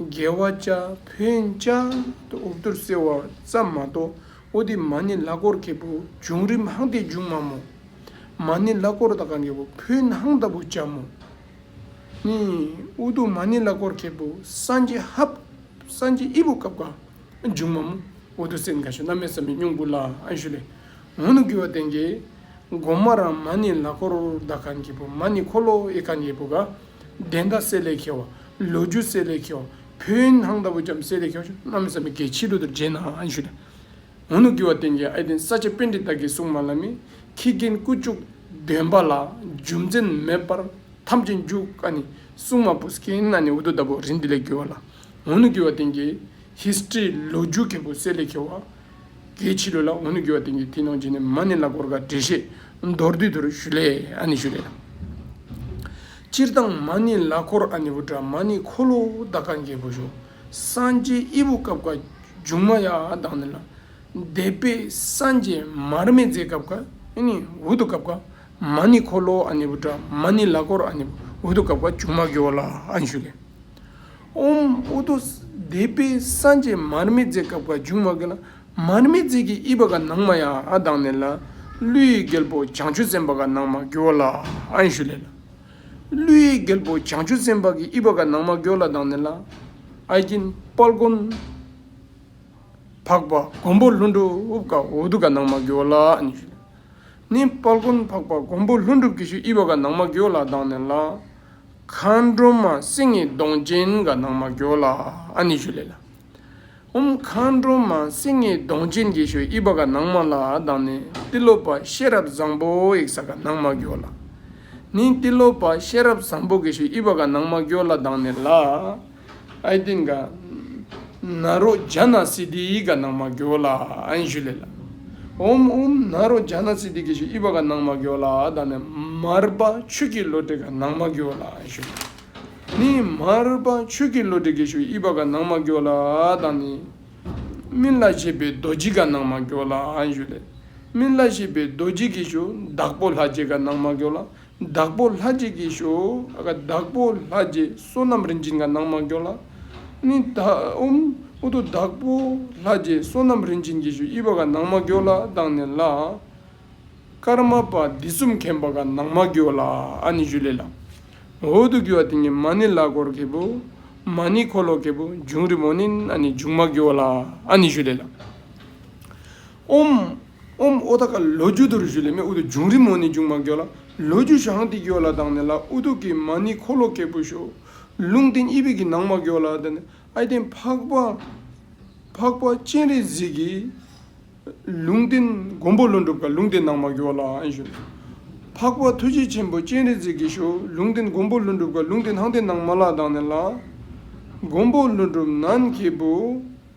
རྒྱལ་བ་ལྕགས་ཕོའི་ལྕགས་འུབ་གཏོར་གསལ་བ་ཙམ་མ་གཏོགས་ཨོ་དི་མ་ནི་བླ་གོར་གྱི་བུ་བྱུང་རིམ་ཧང་སྟེ་འཇུག་མ་མོ། མ་ནི་བླ་གོར་ད་གང་གི་བུ་ཕུ་ནྷང་ལྟ་བུ་ལྕགས་མོ། ནི་ཨུ་དུ་མ་ནི་བླ་གོར་གྱི་བུ་སངས་རྒྱས་ཧབ་སངས་རྒྱས་ཨི་བུ་ཀབ་གང་འཇུག་མ་མོ། ཨོ་དུ་སེ་ནག་ཤ་སྣ་མེད་ས་མི་སྙུང་བུ་ལ་ཨན་ཤུ་ལེ། ངོ་ནུ་གུ་བ་དན་གྱི་སྒོ་མ་རང་མ་ནི་བླ་གོར་ད་གང་གི་བུ་མ་ནི་འཁོར་ལོ་ཨི་གང་གི་བུ་ག་དན་ད་སེ་ལེ་ཁེ་བ་ལོ་རྒྱུས་གསལ་ལེ་ཁྱོ། བོད་སྣང་ལྟ་བུ་རྒྱམ་གསལ་ལེ་ཁྱོ། གནམ་བཟའ་མི་དགེ་ཕྱི་ལོ་དུར་རྗེས་ནང་ཨན་ཞུ་ལེ། འོ་ནུ་དགེ་བ་བསྟན་རྒྱལ་ཨེ་བསྟན་ས་ཆ་པན་ཏི་བདག་གི་སྲུང་མ་ལ་མི། ཁྱི་རྒན་སྐུ་བཅུག་འདོན་པ་ལ་རྒྱུ་མཚན་མེད་པར་ཐམས་ཅད་འཇུག་ཀ་ནི་སྲུང་མ་བུ་སྐྱེ་ན་ནི་འུ་ཐུག་ལྟ་བུ་རི་འདི་ལས་རྒྱུ་བ་ལ། འོ་ནུ་དགེ་བ་བསྟན་རྒྱལ། History ལོ་རྒྱུས་གལ་པོ་གསལ་ལེ་ཁྱོ་བ། དེའི་ཕྱི་རོལ་ལ་འོ་ནུ་གྱོ་བ་དེ་ཉིད་དེའི་ནང་བྱས་ནས་མ་ནི་ལ་གོར་ག་བྲེ་ཤེས་མདོར་བསྡུས་དུར་ཞུ་ལས་ཨ་ནི་ཞུ་ལས། སྤྱིར་བཏང་མ་ནི་ལ་གོར་ཨ་ནི་བུ་དྲག་མ་ནི་འཁོར་ལོ་བདག་ག་འགྱེད་བུ་ཞོ་སངས་རྒྱས་དབྱེ་བུ་སྐབས་ཀ་འབྱུང་མ་ཡ་དང་ནི་ལ་བཟླས་པས་སངས་རྒྱས་མར་མེ་མཛད་སྐབས་ཀ་ནི་འུ་ཐུག་སྐབས་ཀ་མ་ནི་འཁོར་ལོ་ཨ་ནི་བུ་དྲག་མ་ནི་ལ་གོར་ཨ་ནི་བུ་ཐུག་སྐབས་ཀ་འབྱུང་མ་གྱོ་བ་ལ་ཨ་ནི་ཞུ་ལས། ཨོྃ་ཨུ་དུ་བཟླས་པས་སངས་རྒྱས་མར་མེ་མཛད་སྐབས་ཀྱི་འབྱུང་བ་ཀཱི་ལ་མར་མེ་མཛད་ཀྱི་དབྱིབས་པ་ག་ནང་མ་ཡང་ཨ་དང་ནི་ལ། ཀླུའི་རྒྱལ་པོ་བྱང་ཆུབ་སེམས་དཔའ་ག་ནང་མ་གོ་ལ་ཨཱི་ཤཱུ་ལེ་ལ། ཀླུའི་རྒྱལ་པོ་བྱང་ཆུབ་སེམས་དཔའ་གི་དབྱིབས་པ་ག་ནང་མ་གོ་ལ་དང་ནི་ལ། ཨཱི་ཀྱིན་དཔལ་མགོན་འཕགས་པ་མགོན་པོ་ལྷུན་གྲུབ་ཀ་འོ་དུ་ག་ནང་མ་གོ་ལ་ཨཱི་ཤཱུ་ལེ་ལ། ནི། སྤར་ཀུན་འཕགས་པ་མགོན་པོ་ལྷུན་གྲུབ་ཀྱི་ཤུལ་དབྱི་བ་དགའ་ནག་མ་གྱོ་ལ་གདངས་ནས་ལ། མཁའ་འགྲོ་མ་སྲིང་ངེ་གདོང་ཅན་དགའ་ནག་མ་གྱོ་ལ་ཨ་ནི་ཞུ་ལེ་ལ། ཧཱུྃ་མཁའ་འགྲོ་མ་སྲིང་ངེ་གདོང་ཅན་གྱི་ཤུལ་དབྱི་བ་དགའ་ནག་མ་ལ་གདངས་ནས་ཏི་ལོ་པ་ཤེས་རབ་བཟང་པོ་ཡིག་ས་དགའ་ནག་མ་གྱོ་ལ། ནི། ཏི་ལོ་པ་ཤེས་རབ་བཟང་པོ་གྱི་ཤུལ་དབྱི་བ་དགའ་ནག་མ་གྱོ་ལ་གདངས་ནས་ལ། ཨའི་ཏིང་ཀ། ན་རོ་ཇཱ་ན་སི་ཏི་ཡི་ཀ་ནང་མ་གོ་ལ་ཨན་ཞུ་ལེ་ལ། ཨོམ་ཨུམ་ན་རོ་ཇཱ་ན་སི་ཏི་ཀི་ཞུ་ཨི་བ་ཀ་ནང་མ་གོ་ལ་ཨ་ད་ནི་མར་པ་ཆུ་ཀི་ལོ་ཏི་ཀ་ནང་མ་གོ་ལ་ཨན་ཞུ་ལེ་ལ། ནི་མར་པ་ཆུ་ཀི་ལོ་ཏི་ཀི་ཞུ་ཨི་བ་ཀ་ནང་མ་གོ་ལ་ཨ་ད་ནི། སྨིན་བླ་ཞེས་པའི་རྡོ་རྗེ་ཀ་ནང་མ་གོ་ལ་ཨན་ཞུ་ལེ་ལ། སྨིན་བླ་ཞེས་པའི་རྡོ་རྗེ་ཀི་ཞུ་བདག་པོ་ལྷ་རྗེ་ཀ་ནང་མ་གོ་ལ། བདག་པོ་ལྷ་རྗེས་ཀྱིས་ཞུ། བདག་པོ་ལྷ་རྗེས་བསོད་ནམས་རིན་ཆེན་གྱི་ནང་མ་འགྱོགས་ལ། ནི། དབུམ། ཨུ་དུ་བདག་པོ་ལྷ་རྗེས་བསོད་ནམས་རིན་ཆེན་གྱིས་ཞུ་དབྱི་བ་ག་ནང་མ་འགྱོགས་ལ་བཏང་ནས་ལ། ཀརྨ་པ་འདི་གསུམ་མཁན་པ་ག་ནང་མ་འགྱོགས་ལ་ཨ་ནི་ཞུ་ལེ་ལ། འོ་དུ་གུ་བ་དེ་ཉིད་མ་ནི་ལ་གོར་གེ་པོ། མ་ནི་འཁོར་ལོ་གེ་པོ་འབྱུང་རི་མོ་ནི་ཨ་ནི་འབྱུང་མ་འགྱོགས་ལ་ཨ་ནི་ཞུ་ལེ་ལ། ཨུམ། ཨུམ་ཨུ་ད་ཀ་ལོ་རྒྱུ་དུར་བཞུ་ལས་མེ་ཨུ་དུ་འབྱུང་རི་མོ་ནི་འབྱུང་མ་གྱོ་ལ། ལོ་རྒྱུ་ཞང་ཏི་གྱོ་ལ་དང་ནི་ལ་ཨུ་དུ་ཀི་མ་ནི་འཁོར་ལོ་ཀེ་པུ་ཤོ། ལུང་བསྟན་ཨི་བི་ཀི་ནང་མ་གྱོ་ལ་དང་ནི་ཨའི་བསྟན་འཕགས་པ། འཕགས་པ་སྤྱན་རས་གཟིགས་ཀྱི། ལུང་བསྟན་མགོན་པོ་ལོ་འགྲུབ་ཀ་ལུང་བསྟན་ནང་མ་གྱོ་ལ་ཨན་ཤོ། འཕགས་པ་ཐུགས་རྗེ་ཆེན་པོ་སྤྱན་རས་གཟིགས་ཀྱི་ཤོ་ལུང་བསྟན་མགོན་པོ་ལོ་འགྲུབ་ཀ་ལུང་བསྟན་ནང་བསྟན་ནང་མ་ལ་དང་ནི་ལ། མགོན་པོ་ལོ་འགྲུབ་ནན་ཀེ་པུ།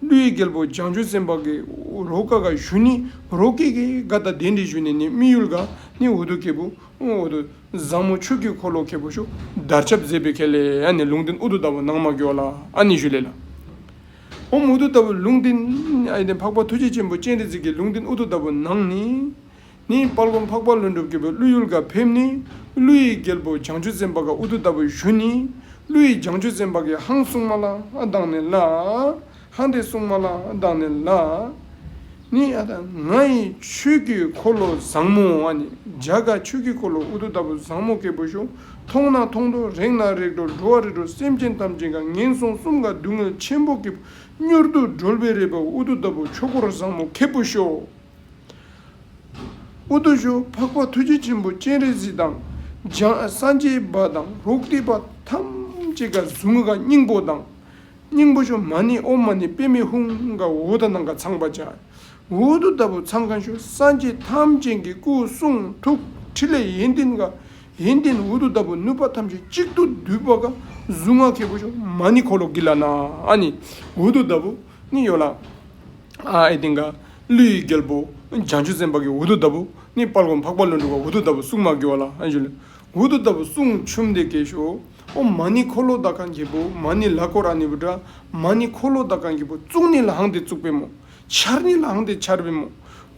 ཀླུ་ཡི་རྒྱལ་པོ་བྱང་ཆུབ་སེམས་དཔའ་གིས་རོ་ཀ་ག་ཞུ་ནི་རོ་ཀེ་ཀེ་ཀ་ད་དེ་འདྲི་ཞུ་ནི་ནི་དམིགས་ཡུལ་ག་ནི་འོ་དོ་ཀེ་པོ་འོ་དོ་བཟང་མོ་ཆོས་ཀྱི་འཁོར་ལོ་ཀེ་པོ་ཤོག་དར་ཆབ་མཛེས་པའི་ཁལ་ལེ་ཨ་ནི་ལུང་བསྟན་འུ་དོ་ད་བོ་ནང་མ་ཀྱོ་ལ་ཨ་ནི་ཞུ་ལེ་ལ་ཧོམ་འུ་དོ་ད་བོ་ལུང་བསྟན་ཨ་ནི་འཕགས་པ་ཐུགས་རྗེ་ཆེན་པོ་སྤྱན་རས་གཟིགས་ཀྱི་ལུང་བསྟན་འུ་དོ་ད་བོ་ནང་ནི་ནི། དཔའ་རྒོམ་འཕགས་པ་ལྷུན་གྲུབ་སྐྱེ་བོའི་ཀླུ་ཡུལ་གར་ཕེབས་ནི། ཀླུ་ཡི་རྒྱལ་པོ་བྱང་ཆུབ་སེམས་དཔའ་ག་ཨུ་དུ་ལྟ་བུའི་གཞུ་ནི། ཀླུ་ཡི་བྱང་ཆུབ་སེམས་དཔའ་གའི་ཧང་སྲུང་མ་ལ་བདག་ནི་ལ། ཧང་སྟེ་སྲུང་མ་ལ་བདག་ནི་ལ། ནི། ང་ཡི་ཆོས་ཀྱི་འཁོར་ལོ་བཟང་མོ་བ་ནི། བྱ་དགའ་ཆོས་ཀྱི་འཁོར་ལོ་ཨུ་དུ་ལྟ་བུ་བཟང་མོ་སྐྱེ་བོ་ཤོ། མཐོང་ན་མཐོང་འགྲོ་རེག་ན་རེག་འགྲོ་འགྲོ་བ་རེ་འགྲོ་སེམས་ཅན་ཐམས་ཅད་གང་ངན་སོང་གསུམ་ག་སྡུག་བསྔལ་ཆེན་པོ་སྐྱེ་བོ་མྱུར་དུ་སྒྲོལ་བའི་རེ་བ་ཨུ་དུ་ལྟ་བུ་ཆོས་འཁོར་བཟང་མོ་སྐྱེ་བོ་ཤོ། ཨུ་དུ་ཤོ་འཕགས་པ་ཐུགས་རྗེ་ཆེན་པོ་སྤྱན་རས་གཟིགས་དང་འཇང་སང་ཆེན་པ་དང་རོག་ཏི་པ་ཐམས་ཅད་ཀྱི་གཟུངས་ཀ་སྙིང་པོ་དང། སྙིང་པོ་ཤོ་མ་ནི་ཨོ་མ་ནི་པད་མའི་ཧཱུྃ་ཀ་འོད་དང་ནང་ག་ཚངས་པ་བྱ་འོད་དུ་ལྟ་བུ་ཚངས་ཀ་ཤོ་སངས་རྒྱས་ཐམས་ཅད་ཀྱི་སྐུ་གསུང་ཐུགས་ཕྲིན་ལས་ཡོན་ཏན་ཀ་ཡོན་ཏན་འོད་དུ་ལྟ་བུ་གནོད་པ་ཐམས་ཅད་གཅིག་ཏུ་བསྡུས་པ་ཀ་གཟུངས་སྔགས་སྐྱེས་བུ་ཤོ་མ་ནི་འཁོར་ལོ་གྱི་ལ་ནང་ཨ་ནི་འོད་དུ་ལྟ་བུ། ནི་ཡོད་ལ། ཨའི་སྟེང་ཀ། ཀླུ་ཡི་རྒྱལ་པོ། བྱང་ཆུབ་སེམས་དཔའ་གྱི་འུར་རྡོ་ལྟ་བུ། ནི་དཔལ་གོང་འཕགས་པ་ལུས་འགྲོ་བ་འུར་རྡོ་ལྟ་བུ་སྲུང་མ་བསྒྱུར་བ་ལ་ཨའི་ཞུ། འུར་རྡོ་ལྟ་བུ་སྲུང་ཆུབ་འདི་སྐད་ཞུ། ཨོ་མ་ནི་འཁོར་ལོ་ད་གང་གྱི་བུ། མ་ནི་ལ་ཀོ་ར་ནི་བུ་དྲ། མ་ནི་འཁོར་ལོ་ད་གང་གྱི་བུ། བཙུགས་ནི་ལའང་དེ་བཙུགས་པའི་མོ། འཕྱར་ནི་ལའང་དེ་འཕྱར་བའི་མོ།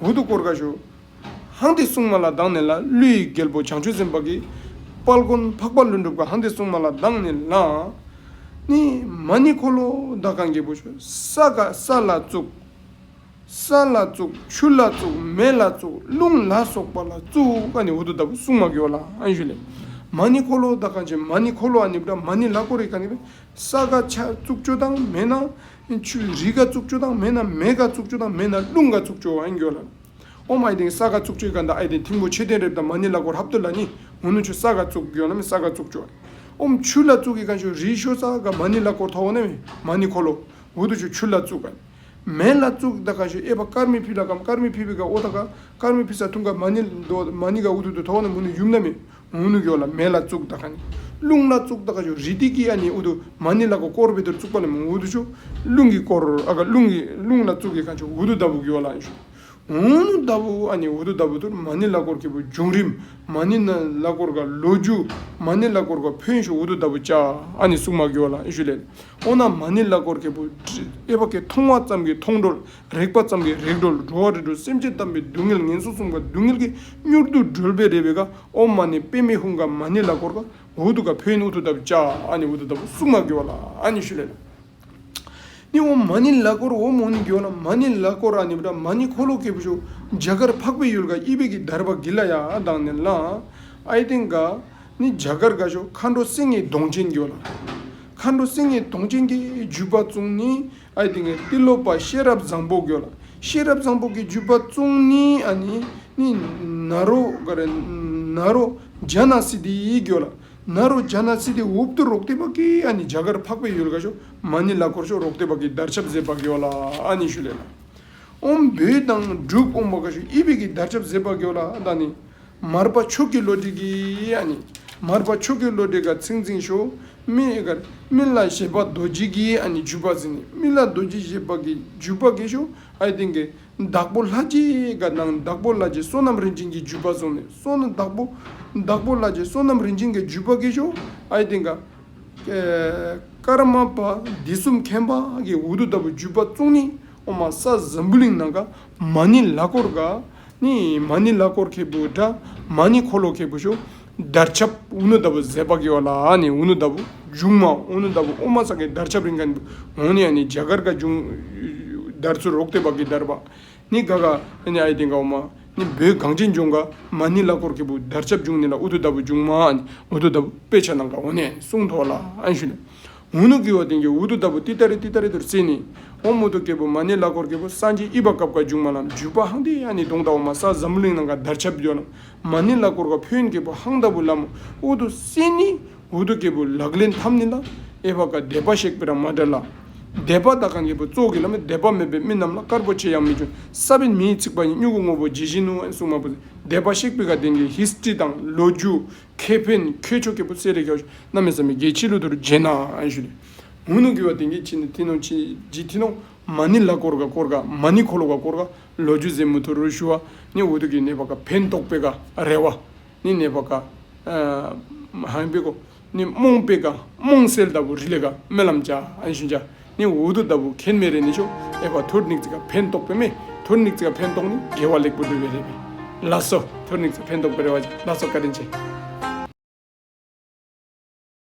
འུར་རྡོ་བསྐོར་ཀ་ཞུ། ཧཱང་ཏི་སྲུང་མ་ལ་སྡང་ནས་ལ་ཀླུ་ཡི་རྒྱལ་པོ་བྱང་ཆུབ་སེམས་དཔའ་གིས། དཔལ་མགོན་འཕགས་པ་ཀླུ་འགྲུབ་ཀྱི་ཧཱང་ཏི་སྲུང་མ་ལ་སྡང་ནས་ལ། ནི་མ་ནི་འཁོར་ལོ་བདག་གང་རྒྱལ་པོ་ཆུ་ས་ག་ས་ལ་བཙུགས། ས་ལ་བཙུགས་ཆུ་ལ་བཙུགས་མེ་ལ་བཙུགས་རླུང་ལ་སོགས་པ་ལ་བཙུགས་ཨ་ནི་འོ་དོ་ལྟ་བུ་སྲུང་མ་གིའོ་ལ་ཨན་ཞུ་ལས། མ་ནི་འཁོར་ལོ་བདག་གང་བྱེད་མ་ནི་འཁོར་ལོ་ཨ་ནི་བྲ་མ་ནི་ལ་ཀོ་རི་ག་ནི་བི་ས་ག་ཆ་བཙུགས་ཆུ་དང་མེ་ན་ཆུ་རི་ག་བཙུགས་ཆུ་དང་མེ་ན་མེ་ག་བཙུགས་ཆུ་དང་མེ་ན་རླུང་ག་བཙུགས་ཆུ་ཨན་ཞུ་ལ། ཨོ་མ་ཨེ་དེང་ས་ག་བཙུགས་ཆོས་ག་འདའ་ཨེ་དེང་ཐིང་པོ་ཆེ་དེང་རེབ་དང་མ་ནི་ལ་གོ་རྷབ་ཏུ་ལ་ནི་ངོ་ནུ་ཆུ་ས་ག་བཙུགས་གྱོ་ན་མི་ས་ག་བཙུགས་ཆོ་ཨོ་མ་ཆུ་ལ་བཙུགས་གི་ག་ཆོ་རི་ཤོ་ས་ག་མ་ནི་ལ་གོ་ཐོ་ན་མི་མ་ནི་ཁོ་ལོ་འུ་དུ་ཆོ་ཆུ་ལ་བཙུགས་ག་ནི་མེ་ལ་བཙུགས་ད་ག་ཆོ་ཨེ་པ་ཀར་མི་ཕི་ལ་གམ་ཀར་མི་ཕི་བི་ག་ཨོ་ད་ག་ཀར་མི་ཕི་ས་ཐུང་ག་མ་ནི་མ་ནི་ག་འུ་དུ་དུ་ཐོ་ན་མུ་ནུ་ཡུམ་ན་མི་མུ་ནུ་ཀྱོ་ལ་མེ་ལ་བཙུགས་ད་ག་ནི། རླུང་ལ་བཙུགས་ད་ག་ཞོ་རི་ཏི་ཀི་ཨ་ནི་ཨུ་དུ་མ་ནི་ལ་གོ་ཀོར་བི་དུར་བཙུགས་པ་ལ་མི་འུ་དུ་ཞོ། རླུང་གི་ཀོར་ཨ་ག་རླུང་གི་རླུང་ལ་བཙུགས་གི་ག་ཞོ་འུ་དུ་ད་བུ་ཀྱོ་ལ་ཨི་ཞོ། འུ་ནུ་ད་བུ་ཨ་ནི་འུ་དུ་ད་བུ་དུར་མ་ནི་ལ་ཀོར་ཀི་བུ་འབྱུང་རིམ་མ་ནི་ན་ལ་ཀོར་ག་ལོ་རྒྱུ་མ་ནི་ལ་ཀོར་ག་ཕོན་ཞོ་འུ་དུ་ད་བུ་ཅ་ཨ་ནི་སུག་མ་ཀྱོ་ལ་ཨི་ཞོ་ལེ་ཨོ་ན་མ་ནི་ལ་ཀོར་ཀི་བུ་ཨེ་བ་ཀི་མཐོང་བ་ཙམ་གི་མཐོང་གྲོལ་རེག་པ་ཙམ་གྱིས་རེག་བྲོ་ལ་བྲོ་བ་རེ་བྲོ་སེམས་ཅན་བལྟམས་པའི་སྡུག་བསྔལ་ངན་སོང་གསུམ་ཀ་སྡུག་བསྔལ་གྱིས་མྱུར་དུ་སྒྲོལ་བའི་རེ་བའི་ཀ་ཨོ་མ་ནི་པདྨའི་ཧཱུྃ་ཀ་མ་ནི་ལ་ཀོར་ཀ་འུ་ཏུ་ཀ་བྷེ་ནི་ཨུ་ཐུ་ཏབ་ཅཱ་ཨ་ནི་ཨུ་ཏུ་ཏབ་སུ་མ་དགེ་བ་ལ་ཨ་ནི་ཤུ་ལེ་ལ་ནི་ཨོ་མ་ནི་ལ་ཀོར་ཨོ་མོ་ནི་གྱོ་ན་མ་ནི་ལ་ཀོར་ར་ནི་བྲ་མ་ནི་འཁོར་ལོ་ཀེ་བུ་ཤོ་འཇའ་གར་འཕགས་པའི་ཡུལ་ཀ་ཨི་བྷེ་ཀི་དར་བ་གི་ལ་ཡ་ཨ་དང་ནི་ལ་ཨའི་སྟེང་ཀ་ནི་འཇའ་གར་ཀ་ཤོ་མཁའ་འགྲོ་སེང་གེའི་གདོང་ཅན་གྱོ་ལ། མཁའ་འགྲོ་སེང་གེའི་གདོང་ཅན་གྱི་བརྒྱུད་པ་བཙུན་ནི་ཨའི་ཏིང་ངེ་འཛིན་སློབ་པ་ཤེས་རབ་བཟང་པོ་དགོས་ལ་ཤེས་རབ་བཟང་པོ་གི་བརྒྱུད་པ་བཙུན་ནི་ཨ་ནི་ནི་ན་རོ་ག་རེ་ན་རོ་ཇཱ་ན་སི་ཏི་དགོས་ལ་ན་རོ་ཇཱ་ན་སི་ཏི་འུབ་ཏུ་རོག་ཏི་པ་ཀི་ཨ་ནི་ཇཱ་གར་འཕགས་པའི་ཡུལ་ཀ་ཤོ་མ་ནི་ལ་འཁོར་ཤོ་རོག་ཏི་པ་ཀི་བརྡར་ཆབ་ཟེར་པ་དགོས་ལ་ཨ་ནི་ཤུ་ལེ་ལ་ཨོམ་བུད་དང་སྒྲུབ་དབོན་པ་ཀ་ཤོ་ཨི་བི་ཀི་བརྡར་ཆབ་ཟེར་པ་དགོས་ལ་ད་ནི་མར་པ་མཆོག་གི་བློ་གྲོས་ཀི་ཨ་ནི་མར་པ་མཆོག་གི་བློ་གྲོས་ཀ་ཚིག་འཛིན་ཤོ་སྨིན་བླ་ཞེས་པ་རྡོ་རྗེ་གིས་བརྒྱུད་པ་ཟིན་ནས་སྨིན་བླ་རྡོ་རྗེ་ཞེས་པ་གིས་བརྒྱུད་པ་གེ་ཤུ་ཨའི་སྟེང་གི་བདག་པོ་ལྷ་རྗེ་འགའ་ནང་བདག་པོ་ལྷ་རྗེ་བསོད་ནམས་རིན་ཆེན་གྱིས་བརྒྱུད་པ་སོང་ནས་སོག་ན་བདག་པོ་ལྷ་རྗེ་བསོད་ནམས་རིན་ཆེན་གྱིས་བརྒྱུད་པ་གེ་ཤུ་ཨའི་སྟེང་གི་ཀརྨ་པ་སྡེ་གསུམ་མཁན་པ་གིས་འུ་དུ་ལྟ་བུའི་བརྒྱུད་པ་བཙུགས་ནས། ཨོ་མ་ས་ཛམ་བུ་གླིང་ནང་ག་མ་ནི་ལ་སྐོར་ག་ནི་མ་ནི་ལ་སྐོར་ཁེ་བུ་དྲ་མ་ནི་འཁོར་ལོ་ཁེ་བུ་ཤོ་དར་ཆབ་འུ་ནུ་ལྟ་བུ་ཟས་པགས་ཀྱི་བ་ལ་ཨ་ནི་འུ་ནུ་ལྟ་བུ་རྒྱུག་མ་འུ་ནུ་ལྟ་བུ་ཨོ་མ་ས་གའི་དར་ཆབ་རིང་ག་ནི་འོ་ནི་ཨ་ནི་རྒྱ་གར་ག་རྒྱུག་དར་ཚུ་རོག་སྟོད་བགས་ཀྱི་དར་བ་ནི་ག་ག་ནི་ཨའི་སྟེང་ག་འོ་མ་ནི་བོད་གངས་ཅན་ལྗོངས་ག་མ་ནི་ལ་སྐོར་ཁེ་བུ་དར་ཆབ་རྒྱུག་ནི་ལ་འུ་ཐུ་ལྟ་བུ་རྒྱུག་མ་ཨ་ནི་འུ་ཐུ་ལྟ་བུ་དཔེ་ཆ་ནང་ག་འོ་ནི་སྲུང་ཐོག་ལ་ཨན་ཤུ་ནི། མུ་ནུ་ཀི་བ་དེང་གི་འུ་དུ་ལྟ་བུ་ཏི་ཏཱ་རི་ཏི་ཏཱ་རི་དུར་བརྩིས་ནས། ཨོ་མུ་ཏུ་ཀེ་བུ་མ་ནི་བླ་ཀོར་ཀེ་བུ་སངས་རྒྱས་དབྱི་བ་ཀ་བཀའ་འཇུག་མ་ལམ་འཇུག་པ་ཧང་དེ་ཡ་ནི་དུང་ལྟ་བུ་མ་ས་ཛམྦུ་གླིང་ནང་ག་དར་ཆབ་བརྒྱོ་ན། མ་ནི་བླ་ཀོར་ཀ་བྷོན་ཀེ་བུ་ཧང་ལྟ་བུ་ལམ་འུ་དུ་སི་ནི་འུ་དུ་ཀེ་བུ་ལག་ལེན་ཐམ་ནི་ལ་ཨེ་བ་ཀ་དད་པ་ཤེག་པི་ར་མ་དྲ་ལ། དད་པ་ད་གང་གེ་བུ་ཙོག་གི་ལམ་དད་པ་མེད་པའི་མི་རྣམས་ལ་དཀར་པོ་ཆེ་ཡང་མི་གྱོན་ས་བི་མིའི་ཚིག་པ་ཡིན་སྨྱུ་གུ་སྔོ་བོ་ཇི་བཞིན་ནུ་ཨན་སུག་མ་བུ་ཟེར་དད་པ་ཤེག་པི་ག་དེང་གི་ཧིས་ཏྲི་དང་ལོ་རྒྱུས། ཁེ་ཕན་ཁྱོད་མཆོག་སྐྱེས་བུ་བརྩེ་རེ་ཁྱོད་རྣམ་མེད་བསམ་མེད་རྒྱལ་ཕྱི་ལོ་དུར་རྗེས་ན་བཞུགས་ཏེ། ངུ་ནུ་གུས་བ་དེང་གི་ཁྱི་ནི་ཐི་ནོ་ཁྱི་རྗི་ཐི་ནོ་མ་ནི་ལ་ཀོར་ག་ཀོར་ག་མ་ནི་ཁོ་ལོ་ག་ཀོར་ག་ལོ་རྒྱུས་མཛེས་མོ་དུ་རུ་ཞུ་བ་ནི་འུ་ཐུག་གི་ནད་པ་ག་ཕན་ཏོག་པེ་ག་རལ་བ་ནི་ནད་པ་ག་ཧན་པེ་གོ་ནི་རྨོངས་པེ་ག་རྨོངས་སེལ་ལྟ་བུ་རི་ལས་ག་རྨི་ལམ་བྱ་ཞིང་བྱ། ནི་འོ་དོ་ལྟ་བུ་ཁེན་མེ་རེ་ནི་ཤོག་ཨེ་བ་ཐུར་ནིག་ཙི་ཀ་ཕན་ཏོག་པེ་མེ་ཐུར་ནིག་ཙི་ཀ་ཕན་ཏོག་ནི་དགེ་བ་ལེགས་པོ་འགྲུབ་པའི་རེ་བས་ལ་སོ་ཐུར་ནིག་ཙི་ཕན་ཏོག་པེ་རེ་བ་ཅིག་ལ་སོ་བཀའ་དྲིན་ཆེ།